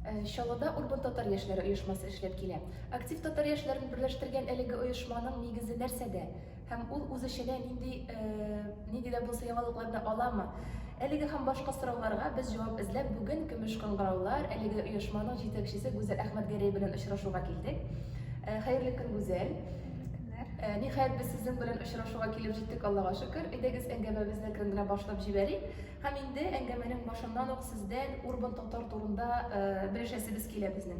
Чаллыда Урбан татар яшьләре оешмасы эшләп килә. Актив татар яшьләрен берләштергән әлеге оешманың нигезе нәрсәдә? Һәм ул үз эченә нинди, нинди дә булса яңалыкларны аламы? Әлеге һәм башка сорауларга без җавап эзләп бүген Көмеш кыңгыраулар әлеге оешманың җитәкчесе Гүзәл Әхмәтгәрәй белән очрашуга килдек. Хәерле көн, Гүзәл. Ниһаять без сезнең белән очрашуга килеп җиттек, Аллага шөкер. Әйдәгез, әңгәмәбезне әкрен генә башлап җибәрик. Һәм инде әңгәмәнең башыннан ук сездән Урбан татар турында белешәсебез килә безнең.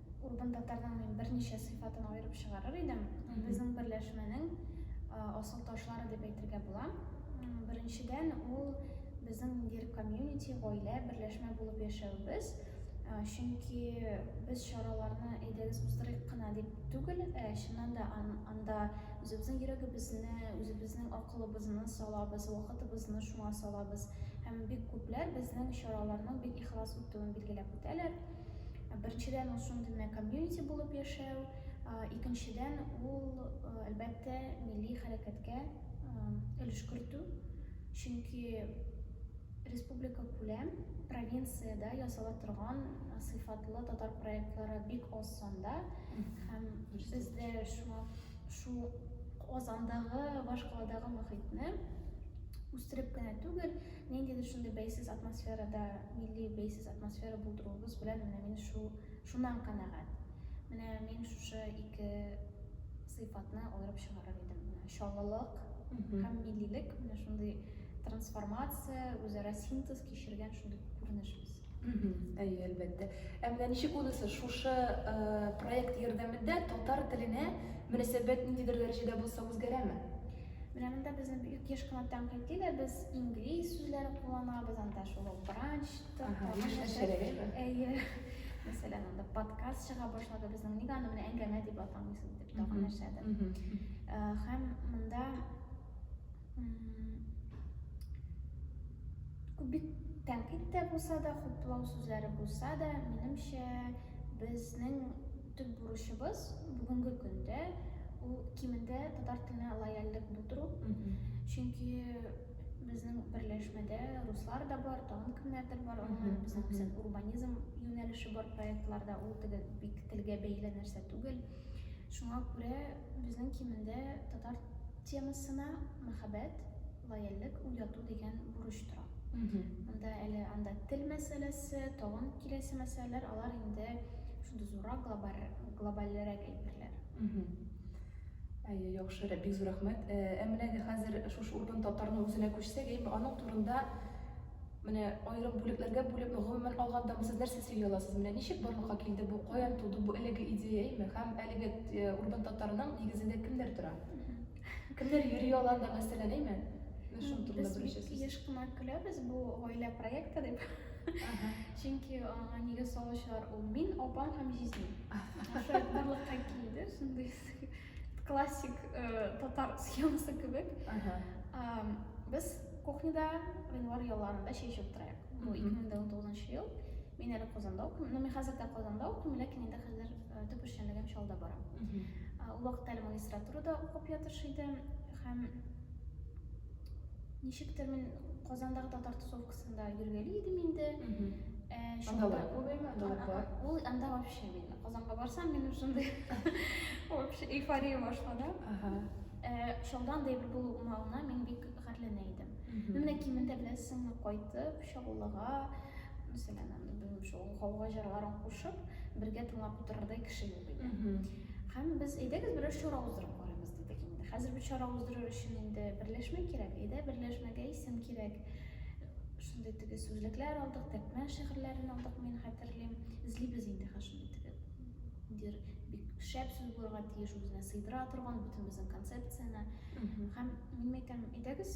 Урбан татарның мин берничә сыйфатын аерып чыгарыр идем. Безнең берләшмәнең асыл ташлары дип әйтергә була. Беренчедән, ул безнең ниндидер комьюнити, гаилә, берләшмә булып яшәвебез. Чөнки без чараларны әйдәгез уздырыйк кына дип түгел, ә чыннан да анда үзебезнең йөрәгебезне, үзебезнең акылыбызны салабыз, вакытыбызны шуңа салабыз. Һәм бик күпләр безнең чараларның бик ихлас үтүен билгеләп үтәләр. Беренчедән, ул шундый гына комьюнити булып яшәү, икенчедән, ул, әлбәттә, милли хәрәкәткә өлеш кертү, чөнки республика күләм провинциядә ясала торган сыйфатлы татар проектлары бик аз санда, һәм бездә шуңа шул Казандагы, башкаладагы мохитне үстереп кенә түгел, Ниндидер шундый бәйсез атмосферада, милли бәйсез атмосфера булдыруыбыз белән менә мин шул, шуннан канәгать. Менә мин шушы ике сыйфатны аерып чыгарыр идем. Менә чаллылык һәм миллилек, менә шундый трансформация, үзара синтез кичергән шундый күренеш без. Әйе, әлбәттә. Ә менә ничек унысы шушы проект ярдәмендә татар теленә мөнәсәбәт ниндидер дәрәҗәдә булса үзгәрәме? Менә монда безне бик еш кына тәнкыйтиләр, без инглиз сүзләре кулланабыз, анда шул ук бранчтыр, Ага, тагын яшьләр нәрсә. шәрәләйме? Әйе. Мәсәлән, анда подкаст чыга башлады безнең, ник аны менә әңгәмә дип атамыйсыз дип, тагын Мгм. нәрсәдер. Мгм. Э, Һәм монда м, бик тәнкыйть тә булса да, хуплау сүзләре булса да, минемчә, безнең Төп бурычыбыз бүгенге көндә ул кимендә татар теленә лояльлек булдыру. Чөнки безнең берләшмәдә руслар да бар, тагын кемнәрдер бар, аңа безнең күбесен урбанизм юнәлеше бар проектларда, ул теге бик телгә бәйле нәрсә түгел. Шуңа күрә безнең кимендә татар темасына мәхәббәт, Лояльлек уяту дигән бурыч тора. Монда әле анда тел мәсьәләсе, тагын киләсе мәсьәләләр, алар инде шундый зуррак, глобальрәк әйберләр. Әйе, яхшы, бик зур рәхмәт. Ә менә инде хәзер шушы урбан татарның үзенә күчсәк, әйе, аның турында менә аерым бүлекләргә бүлеп, гомумән алганда сез нәрсә сөйли аласыз? Менә ничек барлыкка килде бу, каян туды бу әлеге идея, әйеме? Һәм әлеге урбан татарның нигезендә кемнәр тора? Кемдер йөри аларда мәсьәлә дәйме? Шуның турында бер сүз. Без еш кына көләбез бу гаилә проекты дип. Чөнки аңа нигез салучылар ул мин, апам һәм җизним. Шулай барлыкка килде, шундый классик э, татар схемасы кебек. Без кухняда гыйнвар ялларында чәй чөп тырыйк. Бу 2009 ел. Мин әле Казанда укыйм. Ну, мин хәзер дә Казанда укыйм, ләкин инде хәзер Э, төп эшчәнлегем Чалда бара. Э, ул вакытта әле магистратурада укып ятыш иде һәм ничектер мин Казандагы татар тусовкасында йөргәли идем инде. Э, анда бар күбеме? Ул анда вообще мин Казанга барсам, мин шундый вообще эйфория башлана. Шунда анда бер булуыма мин бик гарьләнә идем. Менә кимендә беләсеңме кайтып, Чаллыга, мәсәлән, анда белмим шул гауга җырларын кушып, бергә тыңлап утырырдай кеше юк иде. Һәм без әйдәгез берәр чара уздырып карыйбыз дидек инде. Хәзер бу чара уздырыр өчен инде берләшмә кирәк, әйдә берләшмәгә исем кирәк. Шундый теге сүзлекләр алдык, Тәкмән шигырьләрен алдык, мин хәтерлим. Эзлибез инде хәзер шундый теге дир бик шәп сүз булырга тиеш, үзенә сыйдыра торган бөтен безнең концепцияне. Һәм мин әйтәм, әйдәгез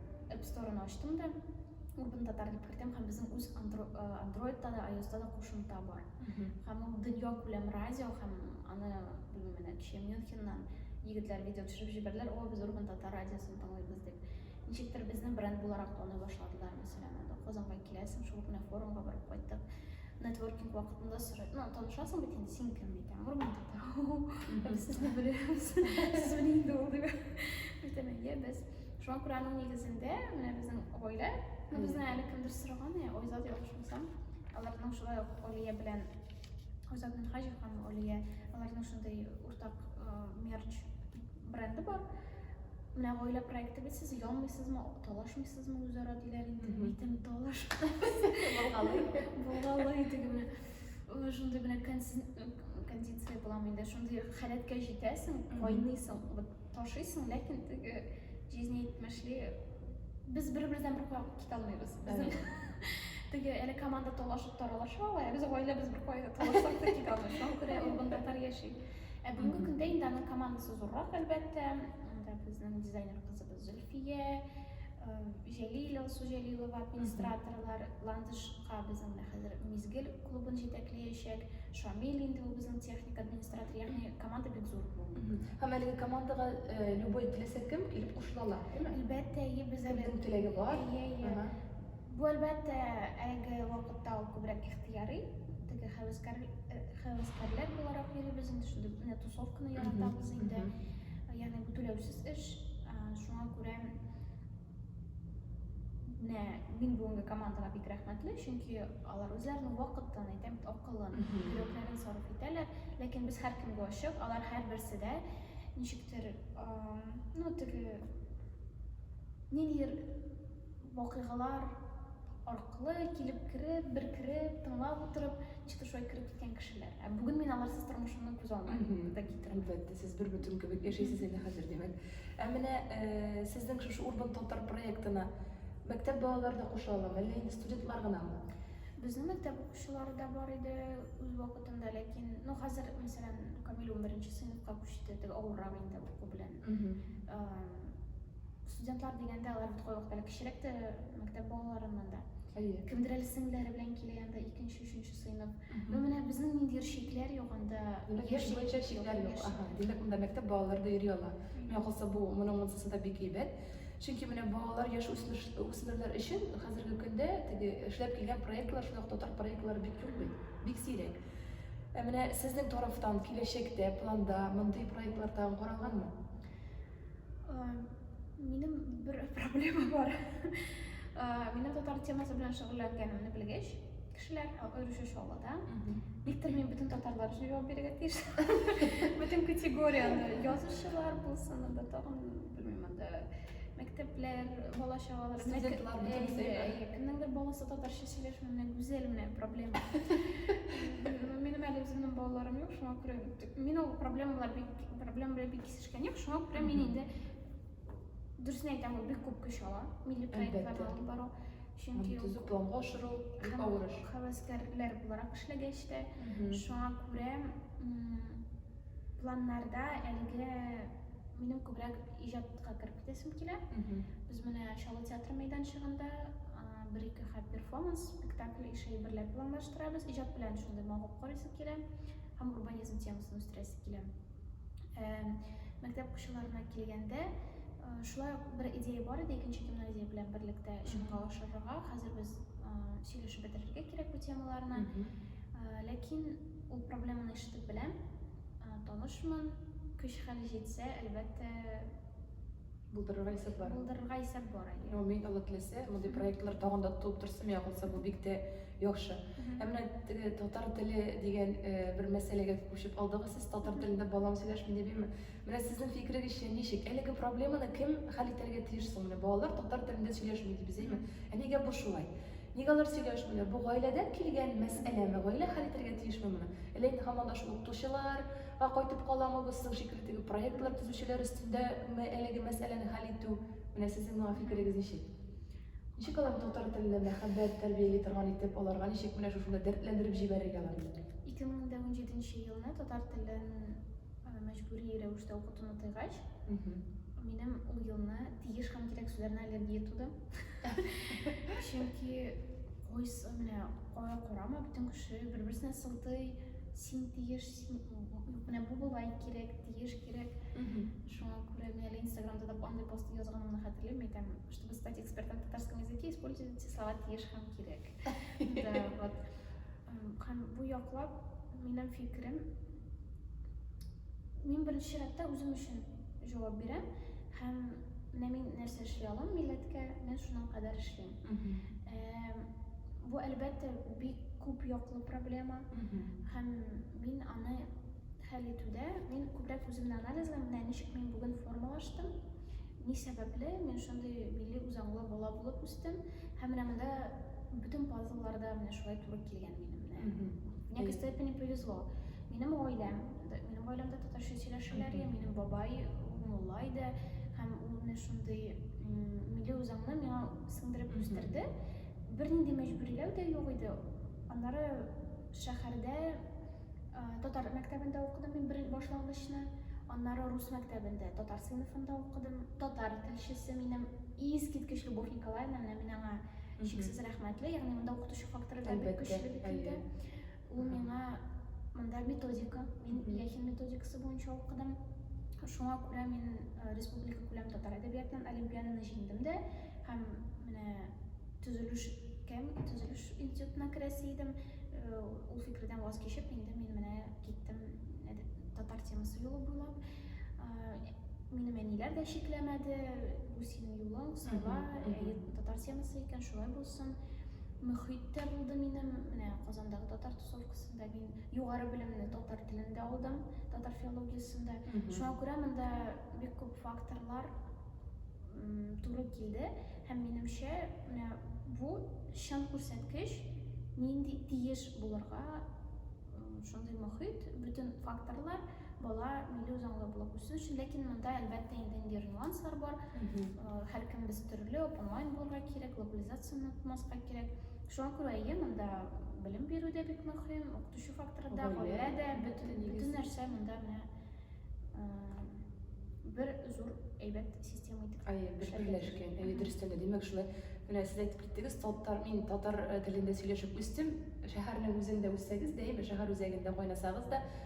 App Store'ны ачтым да, Urban Tatar дип кертәм һәм безнең үз Android-та да, iOS-та да кушымта бар. Һәм ул дөнья күләм радио һәм аны, белмим, менә кичә Мюнхеннан егетләр видео төшереп җибәрделәр, о, без Urban Tatar радиосын тыңлыйбыз дип. Ничектер безне бренд буларак таный башладылар, мәсәлән, анда Казанга киләсең, шул кенә форумга барып кайттык. Нетворкинг вакытында сорый, ну, танышасың бит инде, син кем икән? Urban Tatar. Без сезне беләбез. Сез белән инде ул дип. Әйтәм, әйе, без Шуңа күрә аның нигезендә менә безнең гаилә, ну безне әле кемдер сораган, я Айзат я Охшансам, аларның шулай ук Олия белән Айзат Минхаҗев һәм Олия, аларның шундый уртак мерч бренды бар. Менә гаилә проекты бит сез янмыйсызмы, талашмыйсызмы үзара диләр инде, битем талаш. Булгалый, булгалый дигән. Шундый менә кондиция буламы инде, шундый халәткә җитәсең, кайныйсың, вот Ташыйсың, ләкин теге җизнитмешли без бер-бердән бер кая китә алмыйбыз. Безнең теге әле команда талашып таралаша ала, ә без гаиләбез бер кая талашсак та китә алмый. Шуңа күрә ул бында тар яши. Ә бүгенге көндә инде аның командасы зуррак, әлбәттә. Анда безнең дизайнер кызыбыз Фия, Җәлил, Алсу Җәлилова, администраторлар, Ландышка безнең менә хәзер Мизгел клубын җитәклиячәк, Шамил инде ул безнең техник администратор, ягъни команда бик зур бүгенге. Һәм әлеге командага любой теләсә кем килеп кушыла ала, әйеме? Әлбәттә, әйе, без әле. Кемнең теләге бар? Әйе, әйе. Бу, әлбәттә, әлеге вакытта ул күбрәк ихтыяри. Теге хәвескәр, хәвескәрләр буларак йөрибез инде, шундый менә тусовканы яратабыз инде. Ягъни бу түләүсез эш. Шуңа күрә менә мин бүгенге командага бик рәхмәтле, чөнки алар үзләренең вакытын, әйтәм бит, акылын, йөрәкләрен сарыф итәләр. Ләкин без һәркемгә ачык, алар һәрберсе дә ничектер, ну, теге ниндидер Вакыйгалар аркылы килеп кереп, бер кереп, тыңлап утырып, чытышуга кереп киткән кешеләр. Ә бүген мин аларсыз тормышымны күз алмыйм да китерәм. Әлбәттә, сез бер бөтен кебек яшәйсез әле хәзер, димәк. Ә менә э, сезнең шушы Урбан татар проектына мәктәп балалары да куша аламы, әллә инде студентлар гынамы? Безнең мәктәп укучылары да бар иде үз вакытында, ләкин, ну, хәзер, мәсәлән, Камил унберенче сыйныфка күчте, теге авыррак инде уку белән Студентлар дигәндә алар бит кайвакыт әле кечерәк тә мәктәп балаларыннан да. Әйе. Кемдер әле сеңлеләре белән килә янда икенче, өченче сыйныф. Ну менә безнең ниндидер шикләр юк анда. Яшь буенча шикләр юк. Ага. Димәк, монда мәктәп балалары да йөри ала. Миңа калса бу моның монсысы да бик әйбәт. Чөнки менә балалар яшь үсмерләр өчен хәзерге көндә теге эшләп килгән проектлар, шул ук татар проектлары бик юк бит. Бик сирәк. Ә менә сезнең тарафтан киләчәктә планда мондый проектлар тагын каралганмы? Минем бер проблема бар. Минем татар темасы белән шөгыльләнгәнемне белгәч, кешеләр, аеруча Чаллыда, никтер мин бөтен татарлар өчен җавап бирергә тиеш. Бөтен категорияне, язучылар булсын, анда тагын белмим анда мәктәпләр, бала чагалар, студентлар, кемнеңдер баласы татарча Сөйләшмә менә гүзәл менә проблема. Минем әле үземнең балаларым юк, шуңа күрә мин ул проблемалар бик проблема белән бик кисешкән юк, шуңа күрә мин инде дөресен әйтәм, ул бик күп көч ала, милли проектларны алып бару. Чөнки төзү планга ашыру бик авыр эш. Хәвәскәрләр буларак эшләгәч тә, шуңа күрә планнарда әлегә минем күбрәк иҗатка кереп Әйтәсем килә. Без менә Чаллы театры мәйданчыгында бер-ике хәт перформанс, спектакль ише әйберләр планлаштырабыз. Иҗат белән шундый мавык карыйсы килә һәм урбанизм темасын үстерәсе килә. Мәктәп укучыларына килгәндә, шулай бер идея бар иде, икенче гимназия белән берлектә чынга ашырырга. Хәзер без сөйләшеп бетерергә кирәк бу темаларны. Ләкин ул проблеманы ишетеп беләм, танышмын. Көч-хәл җитсә, әлбәттә, Булдырырга исәп бар. Булдырырга исәп бар әле. Ну, мин Алла теләсә, мондый проектлар тагын да тулып торсын, я булса бу бик тә яхшы. Ә менә теге татар теле дигән э, бер мәсьәләгә күчеп алдыгыз сез, татар телендә балам сөйләшми дип имме? Менә сезнең фикерегезчә ничек? Әлеге проблеманы кем хәл итәргә тиеш соң? Менә балалар татар телендә сөйләшми дибез, әйме? Ә нигә бу шулай? Нигә алар сөйләшмиләр? Бу гаиләдән килгән мәсьәләме? Гаилә хәл итәргә тиешме моны? Әллә инде һаман да шул укытучылар, Га кайтып каламы без соң шикелле теге проектлар төзүчеләр өстендә ме әлеге мәсьәләне хәл итү? Менә сезнең моңа фикерегез ничек? Ничек алар татар теленә мәхәббәт тәрбияли торган итеп, аларга ничек менә шушында дәртләндереп җибәрергә аларны? 2017 елны татар телен мәҗбүри рәвештә укытуны тыйгач, минем ул елны тиеш һәм кирәк сүзләренә аллергия туды. Чөнки кайсы менә кая карама, бөтен кеше бер-берсенә сылтый, син тиеш, Менә бу болай кирәк, тиеш кирәк. Шуңа күрә мин әле Инстаграмда да андый пост язганымны хәтерлим, әйтәм, чтобы стать экспертом в татарском языке, используйте слова тиеш һәм кирәк. Да, вот. Һәм бу яклап минем фикерем, мин беренче чиратта үзем өчен җавап бирәм һәм менә мин нәрсә эшли алам милләткә, мин шуның кадәр эшлим. Бу, әлбәттә, бик күп яклы проблема. Һәм мин аны хәл итүдә, мин күбрәк үземне анализлам, менә ничек мин бүген формалаштым, ни сәбәпле мин шундый милли үзаңлы бала булып үстем, һәм менә монда бөтен пазлларда менә шулай туры килгән минем. Мне, к степени, повезло. Минем гаиләм, минем гаиләмдә татарча сөйләшәләр, минем бабай мулла иде, һәм ул менә шундый Милли үзаңны миңа сыңдырып үстерде. Бернинди мәҗбүриләү дә юк иде. Аннары шәһәрдә татар мәктәбендә укыдым мин бер башлангычны. Аннары рус мәктәбендә татар сыйныфында укыдым. Татар телчесе минем искиткеч Любовь Николаевна, мин аңа чиксез рәхмәтле. Ягъни монда укытучы факторы да бик көчле бит инде. Ул миңа монда методика, мин Ильяхин методикасы буенча укыдым. Шуңа күрә мин э, республика күләм татар әдәбиятыннан олимпиаданы җиңдем дә һәм менә төзелеш кем төзелеш институтына керәсе идем э, ул фикердән ваз кичеп инде мин менә киттем татар темасы юлы буйлап Минем әниләр дә шикләмәде, бу синең юлың, сала, татар темасы икән, шулай булсын. Мөхит тә булды минем, менә Казандагы татар тусовкасында мин югары белемне татар телендә алдым, татар филологиясендә. Шуңа күрә монда бик күп факторлар туры килде һәм минемчә, менә бу чын күрсәткеч, нинди тиеш булырга шундый мөхит, бөтен факторлар бала милли үзаңлы булып үсү өчен ләкин монда әлбәттә инде инде нюанслар бар һәркем без төрле онлайн булырга кирәк глобализацияне онытмаска кирәк шуңа күрә әйе монда белем бирү дә бик мөһим укытучы факторы да гаилә дә бөтен нәрсә монда менә бер зур әйбәт система итеп әйе бер берләшкән әйе дөрестән дә димәк шулай менә сез әйтеп киттегез татар мин татар э, телендә сөйләшеп үстем шәһәрнең үзендә үссәгез дә әйме шәһәр үзәгендә кайнасагыз да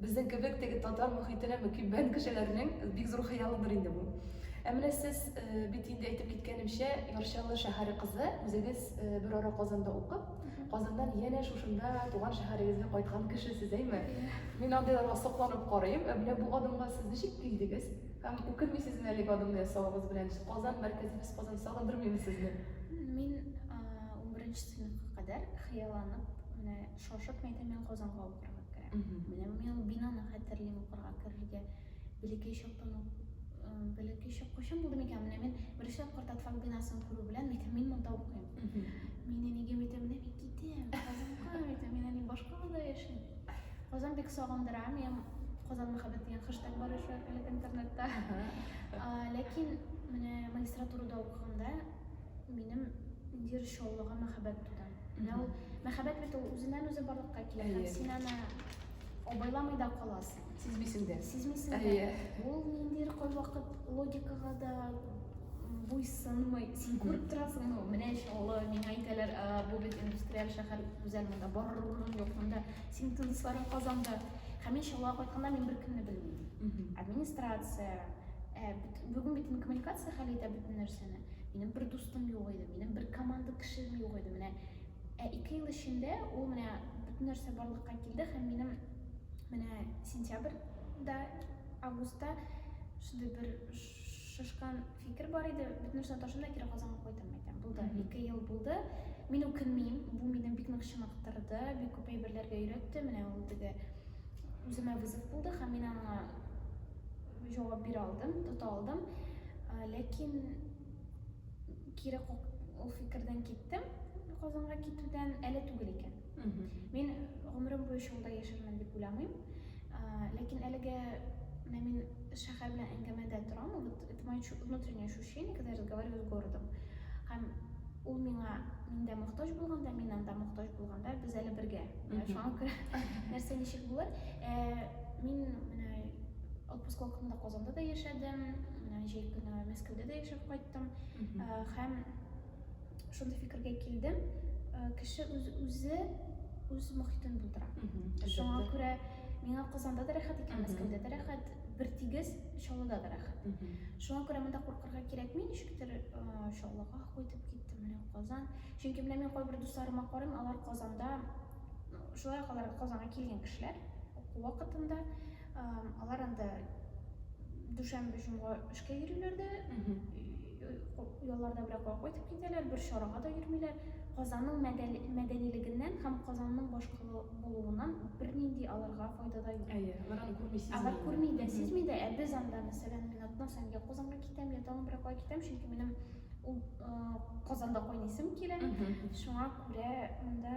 Безнең кебек теге татар мохитенә мөкиббән кешеләрнең бик зур хыялыдыр инде бу. Ә менә сез бит инде әйтеп киткәнемчә, Ярчалы шәһәре кызы, үзегез бер ара Казанда укып, Казаннан янә шушында туган шәһәрегезгә кайткан кешесез, әйме? Мин андыйларга сокланып карыйм. Ә менә бу адымга сез ничек килдегез? Һәм үкенмисезме әлеге адымны ясавыгыз белән? Казан, мәркәзебез Казан сагындырмыймы сезне? Мин унберенче сыйныфка кадәр хыялланып, менә Шашып әйтә, мин Казанга укырга керәм. Менә мин ул бинаны хәтерлим укырга керергә. Бәләкәй чактан ук бәләкәй чак кайчан булды микән? Менә мин беренче тапкыр Татфак бинасын күрү белән әйтәм, мин монда укыйм. Мин әнигә әйтәм, менә мин китәм, Казанга әйтәм, мин әни башка авылда яшим. Казан бик сагындыра, мин Казан мәхәббәт дигән хэштег бар иде әлеге интернетта. Ләкин менә магистратурада укыганда минем ниндидер чаллыга мәхәббәт туды. Менә ул мәхәббәт бит ул үзеннән-үзе барлыкка килә һәм син аны абайламый да каласың. Сизмисең дә. Сизмисең дә. Ул ниндидер кайвакыт логикага да буйсынмый. Син күреп торасың, ну, менә чалы, миңа әйтәләр, бу бит индустриаль шәһәр, гүзәл, монда барыр урын юк, монда син тынычларын Казанда. Һәм мин чалга кайтканда мин беркемне белмим. Администрация, бүгін бит инкоммуникация хәл итә бөтен нәрсәне Минем бер дустым юк иде, минем бер команда кешем юк иде. Менә ә ике ел эчендә ул менә бөтен нәрсә барлыкка килде һәм минем менә сентябрьдә, августта шундый бер шашкан фикер бар иде, бөтен нәрсәне ташлыйм да кире Казанга кайтам әйтәм. Булды, ике ел булды. Мин үкенмим, бу мине бик нык чыныктырды, бик күп әйберләргә өйрәтте. Менә ул теге үземә вызов булды һәм мин аңа Җавап бирә алдым, тота алдым. Ә, ләкин кире ул фикердән киттем. Казанга китүдән әле түгел икән. Мин гомерем буе шунда яшәрмен дип уйламыйм. Ә, ләкин әлегә менә мин шәһәр белән әңгәмәдә торам. Вот это мое внутреннее ощущение, когда я разговариваю с городом. Һәм ул миңа миндә мохтаҗ булганда, мин анда мохтаҗ булганда, без әле бергә. Шуңа күрә нәрсә ничек булыр? Ә, мин менә Отпуск вакытында Казанда да яшәдем, җәй көне Мәскәүдә дә яшәп кайттым. Һәм шундый фикергә килдем, кеше үз үзе үз мохитен булдыра. Шуңа күрә миңа Казанда да рәхәт икән, Мәскәүдә дә рәхәт, бертигез Чаллыда да рәхәт. Шуңа күрә монда куркырга кирәкми, ничектер Чаллыга кайтып киттем, менә Казан. Чөнки менә мин кайбер дусларыма карыйм, алар Казанда шулай ук алар Казанга килгән кешеләр, уку вакытында Алар анда дүшәмбе җомга эшкә йөриләр дә, ялларда берәк кайтып китәләр, бер чарага да йөрмиләр. Казанның мәдәнилегеннән һәм Казанның башкалы булуыннан бернинди аларга файда да юк. Әйе, алар күрми сизми. Алар күрми дә, сизми дә, ә без анда, мәсәлән, мин атна саен я Казанга китәм, я тагын берәк китәм, чөнки минем Казанда кайнисым килә. Шуңа күрә монда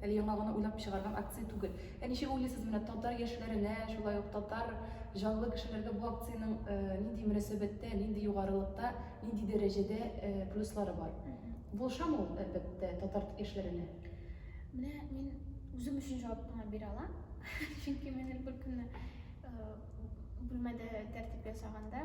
Әле яңа гына уйлап чыгарган акция түгел. Ә ничек уйлыйсыз, менә татар яшьләренә, шулай ук татар җанлы кешеләргә бу акциянең нинди мөнәсәбәттә, нинди югарылыкта, нинди дәрәҗәдә плюслары бар? Булышамы ул, әлбәттә, татар яшьләренә? Менә мин үзем өчен җавап кына бирә алам. Чөнки мин бер көнне бүлмәдә тәртип ясаганда,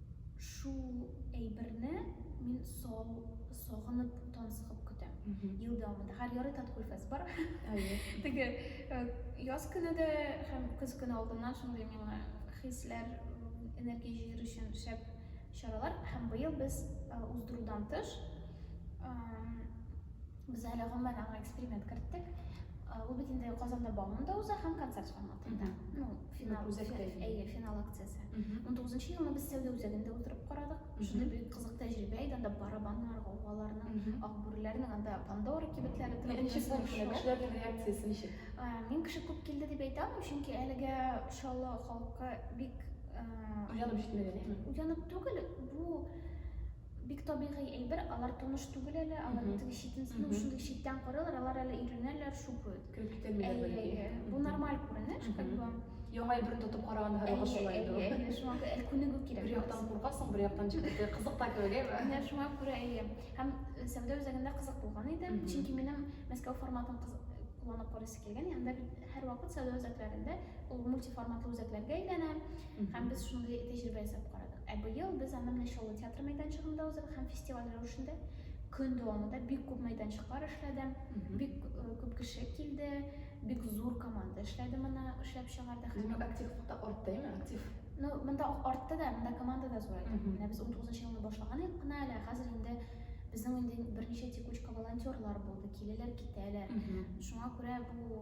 Шул әйберне мин сау сагынып тан сыгып көтәм. Ел дәвамында һәр ярый Таткульфест бар. Әйе. Теге э, яз көне дә һәм көз көне алдыннан шундый миңа хисләр, энергия җыер өчен шәп чаралар. Һәм быел без э, уздырудан тыш эм, Без әле гомумән аңа эксперимент керттек. Ул бит инде Казанда бауман да уза һәм концерт форматында. Ну, финал үзәктә. Әйе, финал акциясе. 19 елны без сәүдә үзәгендә утырып карадык. Шундый бик кызык тәҗрибә иде, анда барабаннар, гаугаларның, акбүреләрнең анда Пандора кибетләре турында. Беренче булмышлы кешеләрнең реакциясе ничек? Мин кеше күп килде дип әйтә алмыйм, чөнки әлегә Чаллы халкы бик уянып җитмәгән, әйеме? Уянып түгел, бу Бик табигый әйбер, алар таныш түгел әле, алар бит теге читен, ну, шундый читтән карыйлар, алар әле өйрәнәләр, шукают. Кереп китәлмиләр Әйе, бәлки. әйе. Бу Мгм. нормаль күренеш, как Мгм. бы. Яңа әйберне тотып караганда һәрвакыт Әйе, шулай әйе, инде ул. әйе, шуңа күрә әле күнегү Бер кирәк. яктан куркасың, бер яктан теге кызык та кебек, әйеме? Менә шуңа күрә, әйе. Һәм э, сәүдә үзәгендә кызык булган иде, Мгм. чөнки минем Мәскәү форматын кыз- кулланып карыйсы килгән, анда бит һәрвакыт сәүдә үзәкләрендә ул мультиформатлы үзәкләргә әйләнә, Һәм без шундый тәҗрибә ясап карадык. Ә быел без аны менә Чаллы театры мәйданчыгында уздырдык һәм фестиваль рәвешендә көн дәвамында бик күп мәйданчыклар эшләде, бик күп кеше килде, бик зур команда эшләде моны эшләп чыгарды. Димәк, активлыкта артты, әйме? Актив. Ну, монда артты да, монда команда да зурайды. Менә без 19 елны башлаган идек кына әле, ә хәзер инде безнең инде берничә текучка волонтерлар булды, киләләр, китәләр. Шуңа күрә бу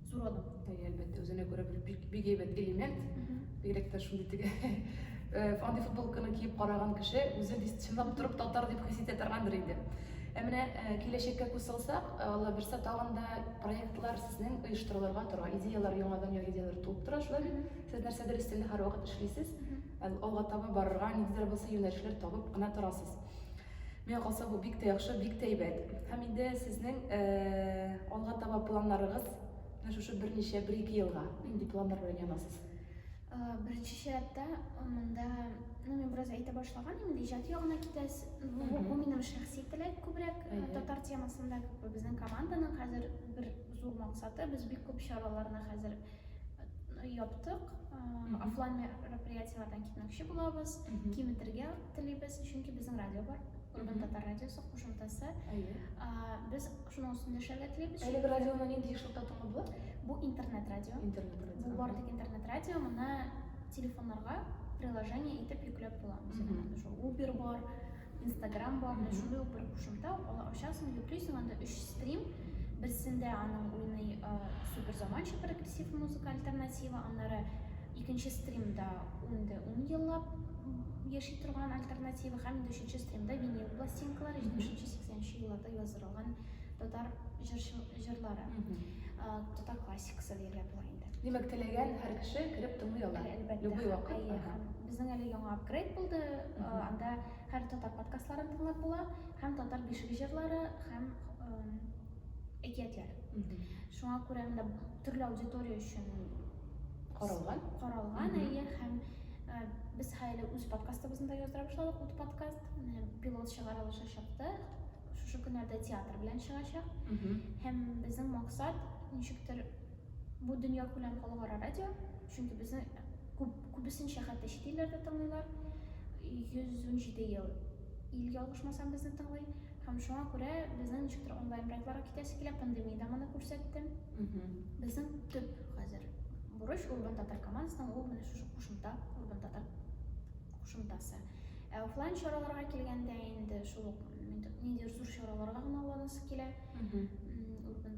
Зур алып күтәрә, әлбәттә, үзенә күрә бер бик, бик әйбәт элемент. Бигрәк тә шундый теге э, андый футболканы киеп караган кеше үзе чынлап торып татар дип хис итә торгандыр инде. Ә менә э, киләчәккә күз салсак, э, Алла бирсә, тагын да проектлар сезнең оештырылырга тора. Идеялар яңадан яңа идеялар туып тора, шулай бит? Сез нәрсәдер өстендә һәрвакыт эшлисез. Алга таба барырга, ниндидер булса юнәлешләр табып кына торасыз. Миңа калса бу бик тә яхшы, бик тә әйбәт. Һәм инде сезнең алга таба планнарыгыз менә шушы берничә, бер-ике елга нинди планнар белән янасыз? Беренче чиратта монда, ну, мин бераз әйтә башлаган идем, иҗат ягына китәс. Бу, бу минем шәхси теләк күбрәк татар темасында, безнең команданың хәзер бер зур максаты, без бик күп чараларны хәзер яптык офлайн мероприятиеләрдән китмәкче булабыз киметергә телибез чөнки безнең радио бар урбан татар радиосы кушымтасы без шуның өстендә эшләргә телибез әлеге радионы нинди эшләтә торган була бу интернет радио интернет радио бу бар тик интернет радио моны телефоннарга приложение итеп йөкләп була ул бар Инстаграм бар, mm -hmm. шундый ук бер кушымта, аны ачасың, йөклисең, анда өч стрим, берсендә аның уйный ә, супер заманча прогрессив музыка альтернатива, аннары икенче стримда инде ун еллап яши торган альтернатива һәм инде өченче стримда винил пластинкалар, җидешенче сиксәнче елларда язылган татар җырлары, татар классикасы диелә була инде. Димәк, теләгән һәр кеше кереп тыңлый ала, любой вакыт. Безнең әле яңа апгрейд булды, анда хәр татар подкастларын тыңлап була, һәм татар бишеге җырлары һәм әкиятләр. Шуңа күрә анда төрле аудитория өчен каралган. Каралган, әйе, һәм без хәле үз подкастыбызны да яздыра башладык, ут подкаст, пилот чыгарылышы чыкты, шушы көннәрдә театр белән чыгачак. Һәм безнең максат ничектер бу дөнья күләм халыкара радио Чөнки безне күп, күбесенчә хәтта чит илләрдә тыңлыйлар. 117 ел ил ялгышмасам безне тыңлый. Һәм шуңа күрә безнең ничектер онлайн проектларга китәсе килә, пандемия дә моны күрсәтте. Безнең төп хәзер бурыч Урбан татар командасының ул менә шушы кушымта, Урбан татар кушымтасы. Ә офлайн чараларга килгәндә инде шул ук ниндидер зур чараларга гына уйланасы килә. Урбан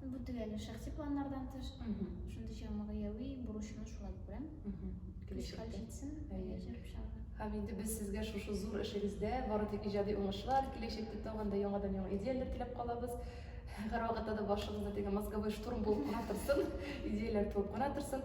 Бу төгәле шәхси планнардан тыш, шундый чама гаеви бурычны шулай күрәм. Килешкән җитсен, җыр пычагы. Һәм инде без сезгә шушы зур эшегездә бары тик иҗади уңышлар, киләчәктә тагын да яңадан яңа идеяләр теләп калабыз. Һәрвакытта да башыгызда теге мозговой штурм булып кына торсын, идеяләр туып кына торсын.